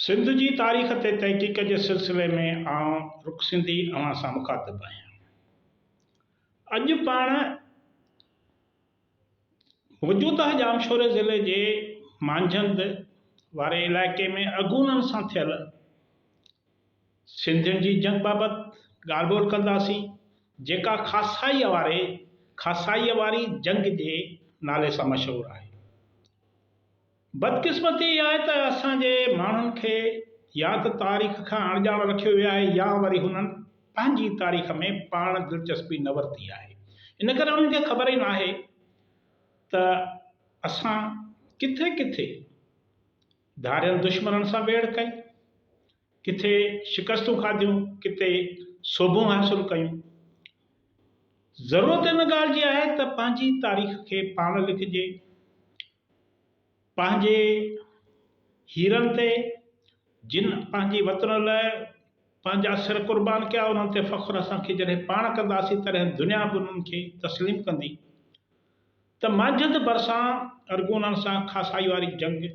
سنڌ جي تاريخ تي تحقيق جي سلسلي ۾ آئون رڪ سنڌي اوهان سان مخاطب آهيان. اڄ پاڻ موجوده ڄامشوري ضلعي جي مانجهند واري علائقي ۾ اغونن سان ٿيل سنڌين جي جنگ بابت ڳالهه ٻولهه ڪنداسين، جيڪا خاصائيء واري، خاصائيء واري جنگ، جي نالي سان مشهور آهي. بدقسمتي اها آهي ته اسان جي ماڻهن کي يا ته تاريخ کان اڻڄاڻ رکيو ويو آهي يا وري هنن پنهنجي تاريخ ۾ پاڻ دلچسپي نه ورتي آهي. ان ڪري انهن کي خبر ئي ناهي ته اسان ڪٿي ڪٿي ڌارين دشمنن سان ويڙهه ڪئي. ڪٿي شڪستون کاڌيون، ڪٿي سوڀون حاصل ڪيون. ضرورت ان ڳالهه جي آهي ته پنهنجي تاريخ کي پاڻ لکجي، پنهنجي هيرن تي جن پنهنجي وطن لاء پنهنجا سر قربان ڪيا انهن تي فخر اسان کي جڏهن پاڻ ڪنداسين تڏهن دنيا به انهن کي تسليم ڪندي ته مانجهند ڀرسان ارغونن سان خاصائي واري جنگ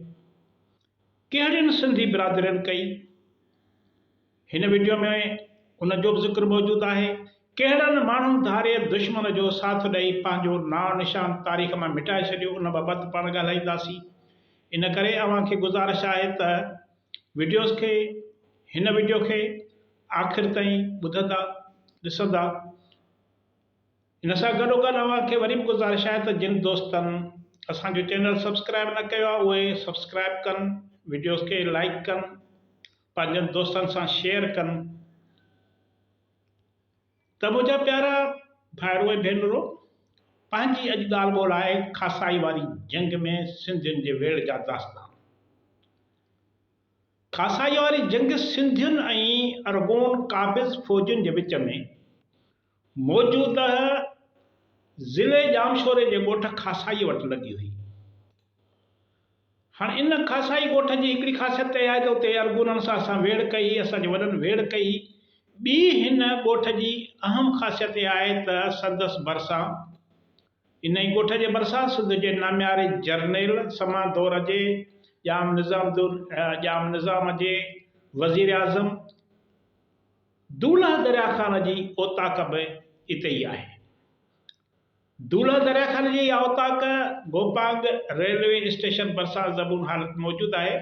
ڪهڙين سنڌي برادرين ڪئي؟ هن وڊيو ۾ ان جو به ذڪر موجود آهي. ڪهڙن ماڻهن ڌارئي دشمن جو ساٿ ڏئي پنهنجو نانء نشان تاريخ مان مٽائي ڇڏيو ان بابت پاڻ ڳالهائينداسين. ان ڪري اوهان کي گذارش آهي ته وڊيوز کي هن وڊيو کي آخر تائين ٻڌندا ڏسندا. ان سان گڏوگڏ اوهان کي وري به گذارش آهي ته جن دوستن اسان جو چينل سبسڪرائيب نه ڪيو آهي اهي سبسڪرائيب ڪن، وڊيوز کي لائيڪ ڪن، پنهنجن دوستن سان شيئر ڪن ته منهنجا پيارا ڀائرو ۽ ڀينرو پنهنجي اڄ ڳالهه ٻولهه آهي کاسائي واري جنگ ۾ سنڌين جي ويڙهه جا داستان. کاسائي واري جنگ سنڌين ۽ ارغون قابض فوجين جي وچ ۾ موجوده ضلعي ڄامشوري جي ڳوٺ کاسائيء وٽ لڳي هئي. هاڻ ان کاسائي ڳوٺ جي هڪڙي خاصيت اها آهي ته اتي ارغونن سان اسان ويڙهه ڪئي هئي، اسان جي وڏن ويڙهه ڪئي هئي. ٻي هن ڳوٺ جي اهم خاصيت اها آهي ته سندس ڀرسان، انهيء ڳوٺ جي ڀرسان، سنڌ جي نامياري جرنيل، سما دور جي ڄام نظام، ڄام نظام جي وزيراعظم، دولهه دريا خان جي اوطاق به اتي ئي آهي. دولهه دريا خان جي اها اوطاق گوپانگ ريلوي اسٽيشن ڀرسان زبون حالت موجود آهي،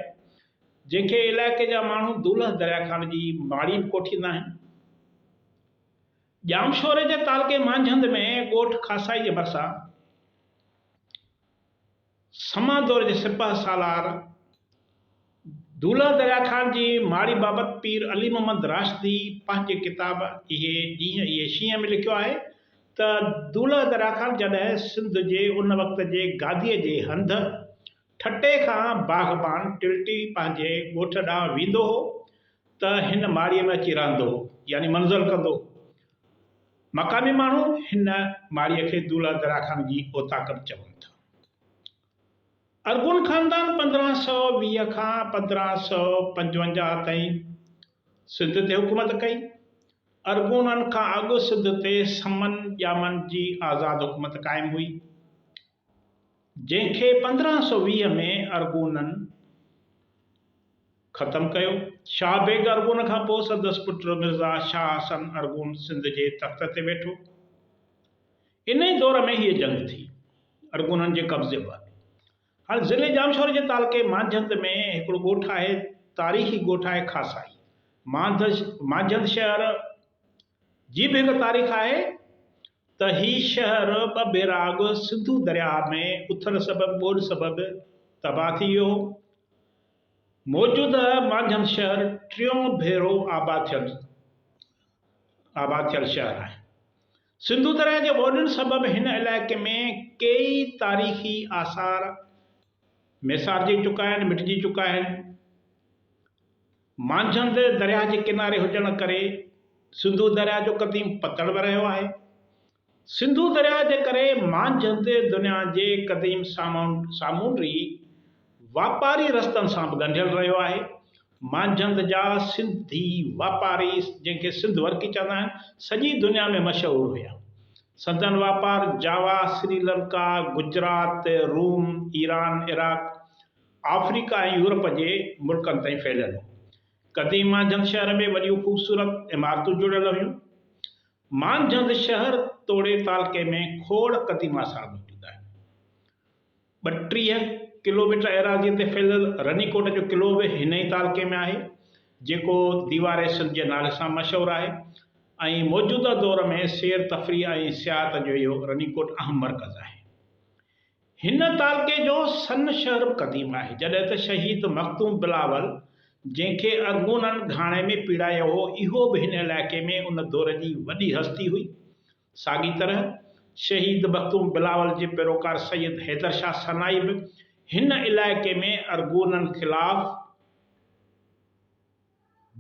جنهن کي علائقي جا ماڻهو دولهه دريا خان جي ماڙي به ڪوٺيندا آهن. ڄامشوري جي تعلقي مانجهند ۾ ڳوٺ خاصائي جي ڀرسان، سما دور جي سپهه سالار دولهه دريا خان جي ماڙي بابت پير علي محمد راشدي پنهنجي ڪتاب اهي ڏينهن اهي شينهن ۾ لکيو آهي ته دولهه دريا خان جڏهن سنڌ جي ان وقت جي گاديء جي هنڌ ٺٽي کان باغبان ٽلٽي پنهنجي ڳوٺ ڏانهن ويندو هو ته هن ماڙيء ۾ اچي رهندو هو يعني منزل ڪندو هو مقامي ماڻهو هن ماڙيء کي دولهه درا خان جي اوطاق به چون ٿا. ارغون خاندان پندرهن سؤ ويهه کان پندرهن سؤ پنجونجاهه تائين سنڌ تي حڪومت ڪئي. ارغونن کان اڳ سنڌ تي سمن ڄامن جي آزاد حڪومت قائم هئي. جنهن کي پندرهن سؤ ويهه ۾ ارغونن ختم ڪيو. شاهه بيگ ارغون کان پوء سندس پٽ مرزا شاهه حسن ارغون سنڌ جي تخت تي ويٺو. ان ئي دور ۾ هيء جنگ ٿي، ارغونن جي قبضي ۾ آئي. هاڻ ضلعي ڄامشوري جي تعلقي مانجهند ۾ هڪڙو ڳوٺ آهي، تاريخي ڳوٺ آهي خاصائي. مانجهند شهر جي به هڪ تاريخ آهي. ته هي شهر ٻه ڀيرا اڳ سنڌو درياهه ۾ اٿڻ سبب ٻوڏ سبب تباهه ٿي ويو هو. موجوده مانجهند شهر ٽيون ڀيرو آباد ٿيل آباد ٿيل شهر آهي. سنڌو درياهه جي ٻوڏن سبب هن علائقي ۾ ڪيئي تاريخي آثار ميسارجي چڪا آهن، مٽجي چڪا آهن. مانجهند درياهه جي ڪناري هجڻ ڪري سنڌو درياهه جو قديم پتڻ به رهيو آهي. سنڌو درياهه جي ڪري مانجهند دنيا جي قديم سامونڊي واپاري رستن سان به ڳنڍيل رهيو آهي. مانجهند جا سنڌي واپاري جنهن کي سنڌ ورڪي چوندا آهن، سڄي دنيا ۾ مشهور هيا. سندن واپار Java, Sri Lanka, Gujarat, Rome, Iran, Iraq, Africa ۽ Europe جي ملڪن تائين ڦهليل هو. قديم مانجهند شهر ۾ وڏيون خوبصورت عمارتون جڙيل هيون. مانجهند شهر توڙي تعلقي ۾ کوڙ قديم آثار موجود آهن. ٻٽيهه ڪلوميٽر ايراضيء تي ڦهليل رني ڪوٽ جو قلعو به هن ئي تعلقي ۾ آهي، جيڪو ديوار سنڌ جي نالي سان مشهور آهي ۽ موجوده دور ۾ سير تفريح ۽ سياحت جو اهو رني ڪوٽ اهم مرڪز آهي. هن تعلقي جو سن شهر به قديم آهي، جڏهن ته شهيد مخدوم بلاول جنهن کي ارغونن گهاڻي ۾ پيڙايو هو، اهو به هن علائقي ۾ ان دور جي وڏي هستي هئي. ساڳي طرح شهيد مخدوم بلاول جي پيروڪار سيد حيدر شاهه سنائي به هن علائقي ۾ ارغونن خلاف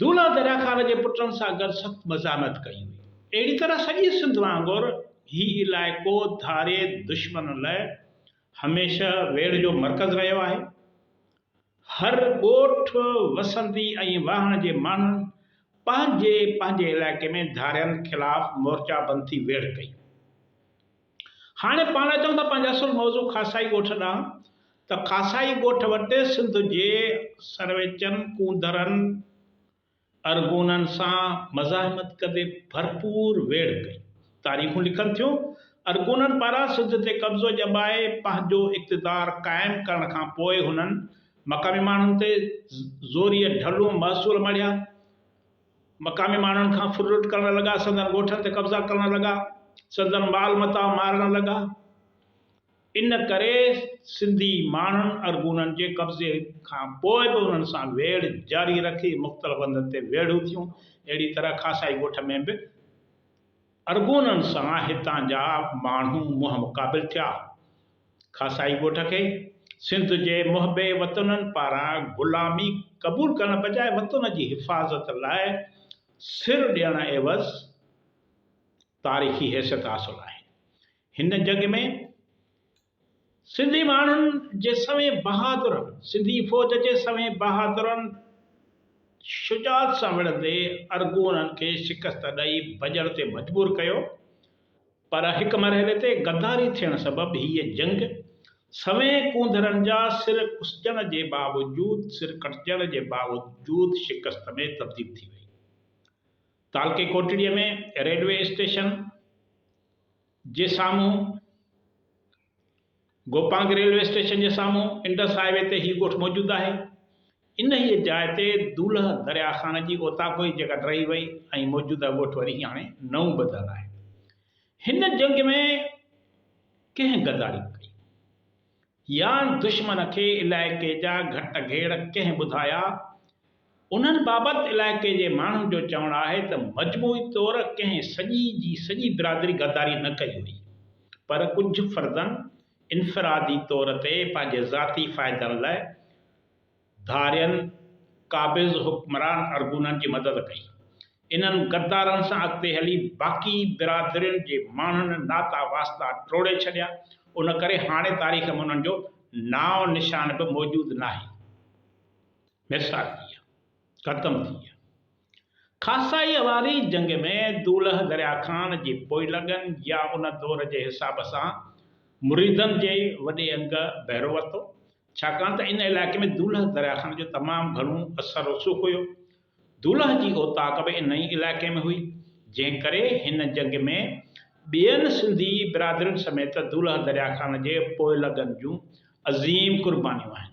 دولا دريا خان جي پٽن سان گڏ سخت مزاحمت ڪئي هئي. اهڙي طرح سڄي سنڌ وانگر هي علائقو ڌاري دشمن لاء هميشه ويڙهه جو مرڪز رهيو آهي. هر ڳوٺ، وسندي ۽ واهڻ جي ماڻهن پنهنجي پنهنجي علائقي ۾ ڌارين خلاف مورچا بند ٿي ويڙهه ڪئي. هاڻي پاڻ اچون ٿا پنهنجي اصل موضوع خاصائي ڳوٺ ڏانهن ته خاصائي ڳوٺ وٽ سنڌ جي سرويچن، ڪونڌرن، ارغونن سان مزاحمت ڪندي ڀرپور ويڙهه ڪئي. تاريخون لکن ٿيون، ارغونن پاران سنڌ تي قبضو ڄمائي پنهنجو اقتدار قائم ڪرڻ کان پوء هنن مقامي ماڻهن تي زوريء ڍلون محصول مڙهيا. مقامي ماڻهن کان ڦر لٽ ڪرڻ لڳا، سندن ڳوٺن تي قبضا ڪرڻ لڳا، سندن مال متاع مارڻ لڳا. ان ڪري سنڌي ماڻهن ارغونن جي قبضي کان پوء به انهن سان ويڙهه جاري رکي مختلف هنڌن تي ويڙهون ٿيون. اهڙي طرح خاصائي ڳوٺ ۾ به ارغونن سان هتان جا ماڻهو منهن مقابل ٿيا. خاصائي ڳوٺ کي سنڌ جي محب وطنن پاران غلامي قبول ڪرڻ بجاء وطن جي حفاظت لاء سر ڏيڻ عيوض تاريخي حيثيت حاصل آهي. هن جنگ ۾ سنڌي ماڻهن جي سوين بهادرن سنڌي فوج جي سوين بهادرن شجاعت سان وڙهندي ارغونن کي شڪست ڏئي ڀڄڻ تي مجبور ڪيو پر هڪ مرحلي تي غداري ٿيڻ سبب هيء جنگ سوين ڪونڌرن جا سر ڪسجڻ جي باوجود سر ڪٽجڻ جي باوجود شڪست ۾ تبديل ٿي وئي. تعلقي ڪوٽڙيء ۾ ريلوي اسٽيشن جي سامهون گوپانگ ريلوي اسٽيشن جي سامهون انڊس هاء وي تي هي ڳوٺ موجود آهي. انهيء جاء تي دولهه درياهه خان جي اوطاقوئي جڳهه ٽهي وئي ۽ موجوده ڳوٺ وري هاڻي نئون ٻڌل آهي. هن جنگ ۾ ڪنهن غداري ڪئي؟ يان دشمن کي علائقي جا گهٽ گهيڙ ڪنهن ٻڌايا، انهن بابت علائقي جي ماڻهن جو چوڻ آهي ته مجموعي طور ڪنهن سڄي جي سڄي برادري غداري نه ڪئي هئي پر ڪجهه فردن انفرادي طور تي پنهنجي ذاتي فائدن لاء ڌارين قابض حڪمران ارغونن جي مدد ڪئي. انهن غدارن سان اڳتي هلي باقي برادرين جي ماڻهن ناتا واسطا ٽوڙي ڇڏيا، ان ڪري هاڻي تاريخ ۾ انهن جو نانء نشان به موجود ناهي. ميرسالڪيه ختم ٿي ويا. خاصائيء واري جنگ ۾ دولهه دريا خان جي پوئلڳن يا ان دور جي حساب سان مريدن جي وڏي انگ بهرو ورتو، ڇاڪاڻ ته ان علائقي ۾ دولهه دريا خان جو تمام گهڻو اثر رسوخ هيو. دولهه جي اوطاق به انهيء علائقي ۾ هئي، جنهن ڪري هن جنگ ۾ ٻين سنڌي برادرين سميت دولهه دريا خان جي پوئلڳن جون عظيم قربانيون آهن.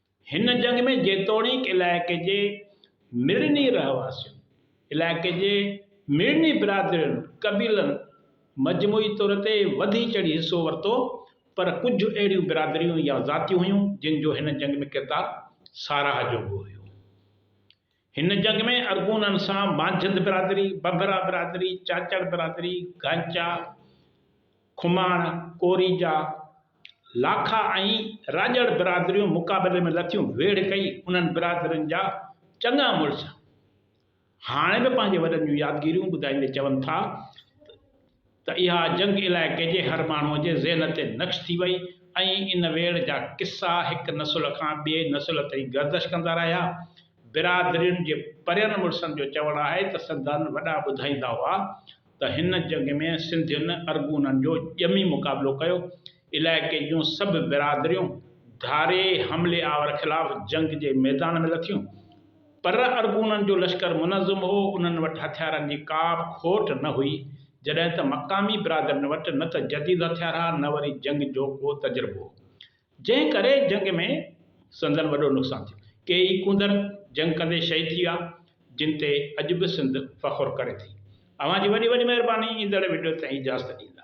هن جنگ ۾ جيتوڻيڪ علائقي جي مڙني رهواسين، علائقي جي مڙني برادرين، قبيلن، مجموعي طور تي وڌي چڙهي حصو ورتو، پر ڪجهه اهڙيون برادريون يا ذاتيون هيون، جن جو هن جنگ ۾ ڪردار ساراهه جوڳو هيو. هن جنگ ۾ ارغونن سان مانجهند برادري، بنڀرا برادري، چاچڙ برادري، گانچا، کماڻ، ڪوريجا، لاکا ۽ راڄڙ برادريون مقابلي ۾ لٿيون. ويڙهه ڪئي. انهن برادرين جا چڱا مڙس هاڻي به پنهنجي وڏن جون يادگيريون ٻڌائيندي چون ٿا ته، ته اها جنگ علائقي جي هر ماڻهوء جي ذهن تي نقش ٿي وئي ۽ ان ويڙهه جا قصا هڪ نسل کان ٻئي نسل تائين گردش ڪندا رهيا. برادرين جي پرين مڙسن جو چوڻ آهي ته سندن وڏا ٻڌائيندا هئا ته هن جنگ ۾ سنڌين ارغونن جو ڄمي مقابلو ڪيو. علائقي جون سڀ برادريون ڌاري حملي آور خلاف جنگ جي ميدان ۾ لٿيون. پر ارغونن جو لشڪر منظم هو، انهن وٽ هٿيارن جي ڪا به کوٽ نه هئي، جڏهن ته مقامي برادرين وٽ نه ته جديد هٿيار ها نه وري جنگ جو ڪو تجربو هو، جنهن ڪري جنگ ۾ سندن وڏو نقصان ٿيو. ڪي ئي ڪونڌر جنگ ڪندي شهيد ٿي ويا، جن تي اڄ به سنڌ فخر ڪري ٿي. اوهان جي وڏي وڏي مهرباني، ايندڙ وڊيو تائين اجازت ڏيندا.